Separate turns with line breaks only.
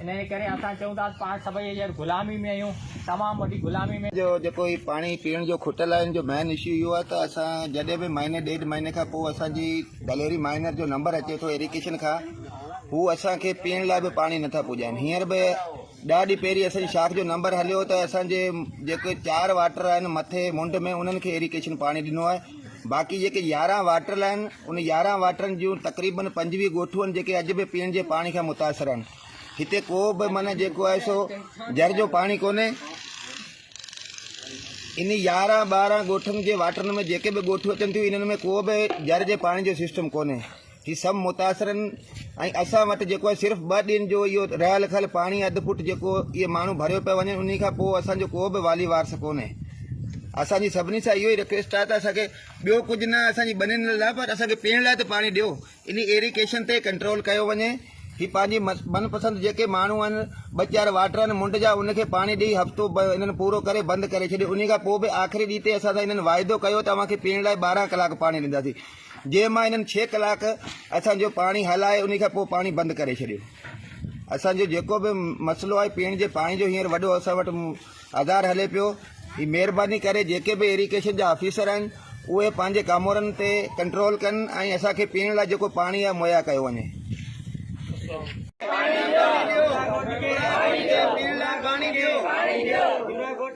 انهيء ڪري اسان چئون ٿا ته پاڻ سڀئي هينئر غلامي ۾ آهيون، تمام وڏي غلامي ۾. جو جيڪو هي پاڻي
پيئڻ جو کوٽل آهي ان جو مين اشو اهو آهي ته اسان جڏهن به مهيني ڏيڍ مهيني کان پوء اسان جي گليري مائنر جو نمبر اچي ٿو ايريڪيشن کان هو اسان کي پيئڻ لاء به پاڻي نٿا پڄائين هينئر به ڏهه ڏينهن پهرين اسان جي شاخ جو نمبر هليو ته اسان جي جيڪي چار واٽر آهن مٿي منڊ ۾ انهن کي ايريڪيشن پاڻي ڏنو آهي باقي جيڪي يارهن واٽرل آهن ان يارهن واٽرن جون تقريبن پنجويهه ڳوٺون جيڪي اڄ به پيئڻ جي پاڻي کان متاثر آهن هتي ڪو به من جيڪو آهي سو جر جو پاڻي ڪونهي ان يارهن ٻارهن ڳوٺن جي واٽرن ۾ جيڪي به ڳوٺون اچن ٿيون انهن ۾ ڪو به جر جي پاڻي جو سسٽم ڪونهي هي سڀ متاثرن ۽ اسان وٽ جيڪو آهي صرف ٻه ڏينهن جو اهو رهل کل پاڻي اڌ فوٽ جيڪو اهي ماڻهو ڀريو پيا وڃن انهي کان پوء اسان جو ڪو به والي وارث ڪونهي اسان جي سڀني سان اهو ئي رڪويسٽ آهي ته اسان کي ٻيو ڪجهه نه اسان جي ٻنين لاء پر اسان کي پيئڻ لاء ته پاڻي ڏيو انهي ايريڪيشن تي ڪنٽرول ڪيو وڃي هي پنهنجي من پسند جيڪي ماڻهو آهن ٻه چار واٽر آهن منڊ جا ان کي پاڻي ڏيئي هفتو هنن پورو ڪري بند ڪري ڇڏيو انهي کان پوء به آخري ڏينهن تي اسان سان هنن واعدو ڪيو ته اوهان کي پيئڻ لاء ٻارهن ڪلاڪ پاڻي ڏينداسين جنهن مان هنن ڇهه ڪلاڪ اسان جو پاڻي هلائي انهي کان پوء پاڻي بند ڪري ڇڏيو اسان جو جيڪو به مسئلو آهي پيئڻ جي پاڻي جو هينئر وڏو اسان وٽ آڌار هلي پيو هي مهرباني ڪري جيڪي به ايريگيشن جا آفيسر آهن اهي پنهنجي ڪامورن تي ڪنٽرول ڪن ۽ اسان کي پيئڻ لاء جيڪو پاڻي آهي مهيا ڪيو وڃي